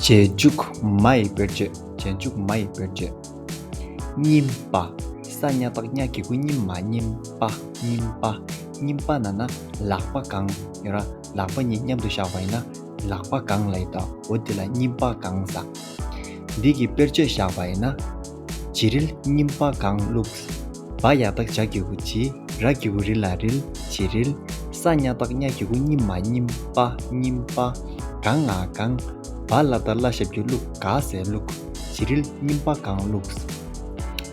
རྗེས་འཇུག་མ་ཡི་དཔེར་བརྗོད་རྗེས་འཇུག་མ་ཡི་དཔེར་བརྗོད། སྙིམ་པ། ས་སྙ་ཏག་སྙ་གི་གུ་སྙིམ་མ་སྙིམ་པ་སྙིམ་པ། སྙིམ་པ་ན་ན་ལག་པ་གང་ཡོད་ར་ལག་པ་གཉིས་མཉམ་དུ་བཞག་པ་ཡིན་ན་ལག་པ་གང་ལ་ཡོད་དོ་འོ་འདི་ལ་སྙིམ་པ་གང་ཟ། འདི་གི་དཔེར་བརྗོད་བཞག་པ་ཡིན་ན། བྱི་རིལ་སྙིམ་པ་གང་བླུགས། བ་ཡ་བདག་བྱ་གི་གུ་བྱི་ར་གི་གུ་རི་ལ་རིལ་བྱི་རིལ། ས་སྙ་བདག་སྙ་གི་གུ་སྙིམ་མ་སྙིམ་པ་སྙིམ་པ། གང་ང་གང། བ་བླ་བདག་བླ་ཞབས་ཀྱི་བླུགས་ག་ཟས་བླུགས། བྱི་རིལ་སྙིམ་པ་གང་བླུགས།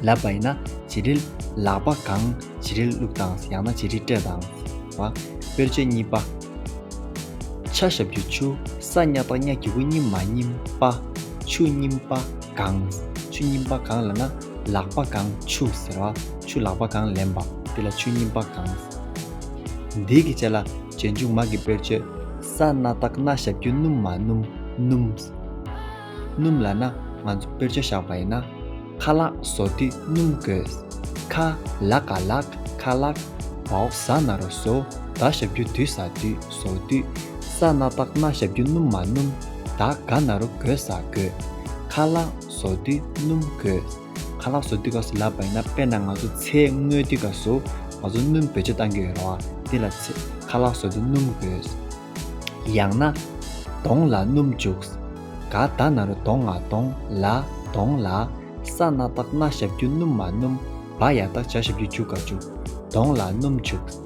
ལ་བ་ཡིན་ན་བྱི་རིལ། ལག་པ་གང་བྱི་རིལ་བླུགས་དང་ཡང་ན་བྱི་རིལ་སྤྲད་དང། བ། དཔེར་བྱད་གཉིས་པ། ཆ་ཞབས་ཀྱི་ཆུ། ས་སྙ་བདག་སྙ་གི་གུ་སྙིམ་མ་སྙིམ་པ། ཆུ་སྙིམ་པ། གང། ཆུ་རྙིང་པ་གང་ལ་ན་ལག་པ་གང་ཆུ་ཟེར་བ་ཆུ་ལག་པ་གང་ལེན་པ་དེ་ལ་ཆུ་རྙིང་པ་གང། འདིའི་གི་བྱས་ལ་བྱས་མཇུག་མ་གི་དཔེར་བརྗོད། ས་སྣ་སྟག་སྣ་ཞབས་ཀྱུ་སྣུམ་མ་སྣུམ་སྣུམ། སྣུམ་ལ་ན་ང་ཚོ་དཔེར་བརྗོད་བཞག་པ་ཡིན་ན། ཁ་ལག་བཟོ་དུས་སྣུམ་དགོས། ཁ་ལག་ག་ལག་ཁ་ལག། བའོ་ས་སྣ་རུ་བཟོ་ད་ཞབས་ཀྱུ་དུས་ཟ་དུས། སོ་དུས་ས་སྣ་ལྟག་སྣ་ཞབས་ཀྱུ་སྣུམ་མ་སྣུམ། དག་དགའ་ན་རོ་གོས་ཟ་གོས། ཁ་ལག་བཟོ་དུས་སྣུམ་གོས། ཁ་ལག་བཟོ་དུས་ག་སུ་ལབ་པ་ཡིན་ན་དཔེར་ན་ང་ཚོ་ཚེ་སྔོན་དུས་ག་སུ་ང་ཚོ་སྣུམ་བེད་སྤྱོད་བཏང་གི་ཡོད་རེད་བ་དེ་ལ་ཚེ་ཁ་ལག་བཟོ་དུས་སྣུམ་གོས། ཡང་ན། གདོང་ལ་སྣུམ་བྱུགས། ག་དག་ན་རོ་གདོང་ང་གདོང་ལ་གདོང་ལ། ས་སྣ་ལྟག་སྣ་ཞབས་ཀྱུ་སྣུམ་མ་སྣུམ། བ་ཡ་དག་བྱ་ཞབས་ཀྱུ་བྱུགས་ག་བྱུགས། གདོང་ལ་སྣུམ་བྱུགས།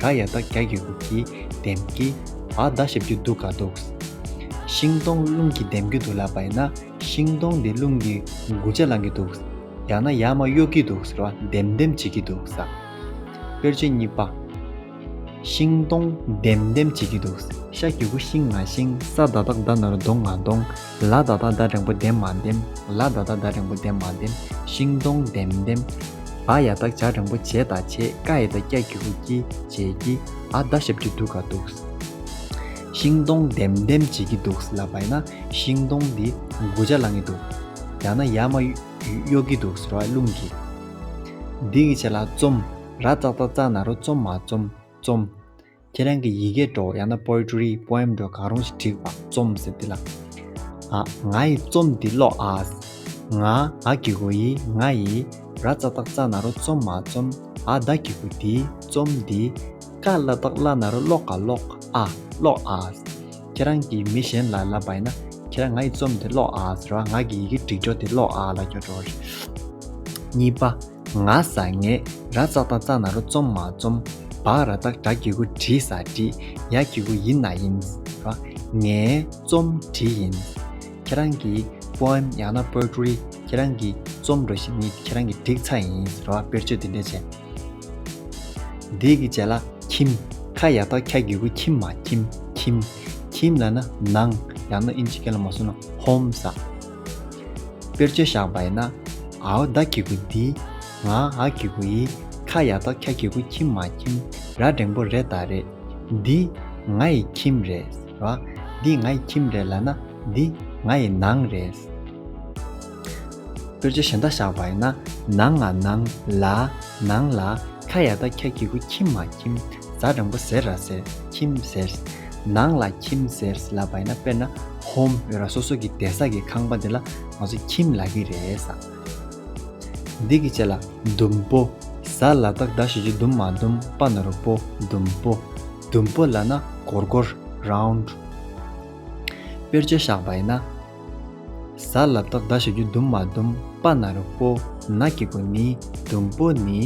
དགའ་ཡག་དག་རྒྱ་གི་འུབ་ཀྱི་འདེམ་གི། ཨ་མདའ་ཞབས་ཀྱི་འདུག་ག་འདུག། ཤིང་སྡོང་རླུང་གི་འདེམ་གི་འདུག་ལབ་པ་ཡིན་ན་ཤིང་སྡོང་འདི་རླུང་གི་མགུ་ཆ་ལང་གི་འདུག། ཡང་ན་ཡག་མ་གཡོག་གི་འདུག་ཟེར་བ་འདེམ་འདེམ་བྱེད་ཀྱི་འདུག་ཟ། དཔེར་བརྗོད་གཉིས་པ། ཤིང་སྡོང་འདེམ་འདེམ་བྱེད་ཀྱི་འདུག། ཤ་གི་འུ་ཤིང་ང་ཤིང། ས་མདའ་དག་མདའ་ནོར་མདོང་ང་མདོང། ལ་ད་ད་ད་རིང་པོ་ལྡེམ་མ་ལྡེམ། ལ་ད་ད་ད་རིང་པོ་ལྡེམ་མ་ལྡེམ། ཤིང་སྡོང་ལྡེམ་ལྡེམ། བ་ཡ་ད་བྱ་རིང་པོ་བྱེད་ད་བྱེད། ཀ་ཡི་ད་སྐྱ་ཀྱི་ཧུ་ཀྱི་བྱེད་ཀྱི། ཨ་ད་ཞབས་ཀྱི་འདུག་ག་འདུག། ཤིང་སྡོང་ལྡེམ་ལྡེམ་བྱེད་ཀྱི་འདུག་ལ་བ་ཡ་ན་ཤིང་སྡོང་འདི་དགུ་བྱ་ལང་གི་འདུག། ཡང་ན་ཡ་མ་གཡོག་གི་འདུག་ར་རླུང་གིས། འདི་གི་བྱེད་ལ་བཙོམ། ར་ཙག་ཙག་ཙག་ན་རོ་བཙོམ་མ་བཙོམ་བཙོམ། ཁྱེད་རང་གི་ཡི་གེ་སྒྲོག་ཡང་ན Poetry Poem སྒྲོག་གང་རུང་ཞིག་བྲིས་པ་རྩོམ་ཟེར་འདི་ལ། ཨ། ང་ཡི་རྩོམ་འདི་ཀློག་ཨ། ང། ཨ་གི་གོ་ཡི་ང་ཡི། ར་རྩ་སྟག་རྩ་ན་རོ་རྩོམ་མ་རྩོམ་ཨ། བདག་གི་གོ་འདི་རྩོམ་འདི། ཀ་བླ་སྟག་བླ་ན་རོ་ཀློག་ག་ཀློག་ཨ། ཀློག་ཨ། ཁྱེད་རང་གིས་མི་གཞན་ལ་ལབ་པ་ཡིན་ན། ཁྱེད་རང་ང་ཡི་རྩོམ་འདི་ཀློག་ཨ་ཟེར་བ་ང་གི་ཡི་གེ་སྒྲིག་སྒྲོག་འདི་ཀློག་ཨ་ལ་འགྱུར་འགྲོ་བ་རེད། གཉིས་པ། ང་ཟ་ངེ། ར་བཙག་དང་བཙག་ན་རོ་བཙོམ་མ་བཙོམ། བག་ར་བཙག་བྲག་གི་གུ་བྲི་ཟ་བྲི། ཡ་གི་གུ་ཡིན་ན་ཡིན། ར། ངེ། བཙོམ་བྲི་ཡིན། ཁྱེད་རང་གི། Poem། ཡང་ན Poetry། ཁྱེད་རང་གི། བཙོམ་འགྲོ་ཞིག་ནི་ཁྱེད་རང་གི་བསྒྲིགས་ཚགས་ཡིན། ར་བ་དཔེར་བརྗོད་འདི་འདྲས་བྱས། འདི་གི་རྗེས་ལ། ཁྱིམ། ཁ་ཡ་ཐོག་ཁྱ་གི་གུ་ཁྱིམ་མ་ཁྱིམ། ཁྱིམ། ཁྱིམ་ལ་ན། ནང། ཡང་ན་ཨིན་ཇི་སྐད་ལ་མ་སོན་ན། Home། ཟ། དཔེར་བརྗོད་བཞག་པ་ཡིན་ན། ཨའོ་བདའ་ཁྱི་གུ་འདི། ང་ཨ་ཁྱི་གུ་ཡིས། ཁ་ཡག་ཐོག་ཁྱ་ཁྱི་གུ་ཁྱིམ་མ་ཁྱིམ། ར་སྒྲེང་པོ་རེད་ད་རེད། འདི། ང་ཡི་ཁྱིམ་རེད། ར། འདི་ང་ཡི་ཁྱིམ་རེད་ལ་ན། འདི། ང་ཡི་ནང་རེད། དཔེར་བརྗོད་གཞན་དག་བཞག་པ་ཡིན་ན། ནང་ང་ནང། ལ། ནང་ལ། ཁ་ཡག་ཐོག་ཁྱ་ཁྱི་གུ་ཁྱིམ་མ་ཁྱིམ། རྫ་དྲང་པོ་ཟེར་ར་ཟེར་ཁྱིམ་ཟེར། ནང་ལ་ཁྱིམ་ཟེར་ལ་བ་ཡིན་ན་དཔེར་ན home ཡོད་ར་སོ་སོ་གི་བདེ་ས་གི་ཁང་པ་འདི་ལ་ང་ཚོ་ཁྱིམ་ལ་གི་རེད། འདི་གི་ཆེ་ལ་ཟླུམ་པོ། ཟ་ལ་དག་ཟླ་བཞི་བཅུ་ཟླུམ་མ་ཟླུམ་པ་ནོར་བུ་ཟླུམ་པོ། ཟླུམ་པོ་ལ་ན་གོར་གོར round། དཔེར་བྱོལ་བཞག་བ་ཡིན་ན། གཟའ་ལ་བདག་བཟའ་ཞེས་རྒྱུ་ཟླུམ་མ་ཟླུམ་པ་ན་རོ་པོ་ན་སྐྱེ་དགུ་ནི་ཟླུམ་པོ་ནི་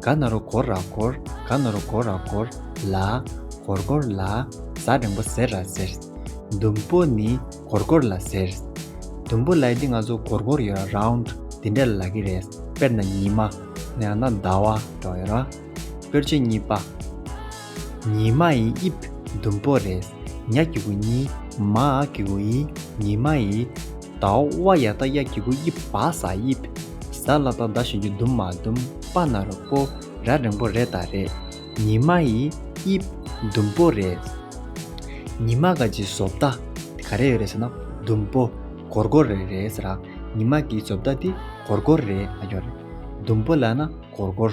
ག་ན་རོ་གོར་ར་གོར་ག་ན་རོ་གོར་ར་གོར་ལ་གོར་གོར་ལ་གཟའ་རིང་པོ་ཟེར་ར་ཟེར། ཟླུམ་པོ་ནི་གོར་གོར་ལ་ཟེར། ཟླུམ་པོ་ལ་འདི་ང་ཚོ་གོར་གོར་ཡོད་ར round འདི་འདྲ་ལ་ལ་གི་རེད་དཔེར་ན་ཉི་མ། ཡང་ན་ཟླ་བ། དཔེར་བརྗོད་གཉིས་པ། ཉི་མ་ཡི་དབྱིབས་ཟླུམ་པོ་རེད། ཉག་གི་གུ་ཉི་མ་གི་གུ་ཡི་ཉི་མ་ཡི། དྭོགས་བ་ཡ་ད་ཡ་གི་གུ་དབྱིབས་བ་ཟ་དབྱིབས། ཟ་ལ་ད་ཟླ་བཞིན་གྱི་ཟླུམ་མ་ཟླུམ་པ་ན་རོ་པོ་ར་རིང་པོ་རེད་ད་རེད། ཉི་མ་ཡི་དབྱིབས་ཟླུམ་པོ་རེད། ཉི་མ་ག་གི་བཟོ་ལྟ་དེ་ག་རེ་ཡོད་རེད་ཟེར་ན་ཟླུམ་པོ་གོར་གོར་རེ་རེད་ཟེར་ར། ཉི་མ་གི་བཟོ་ལྟ་དེ་གོར་གོར་རེད་ཨ་ཡོད་རེད། ཟླུམ་པོ་ལ་ན་གོར་གོར།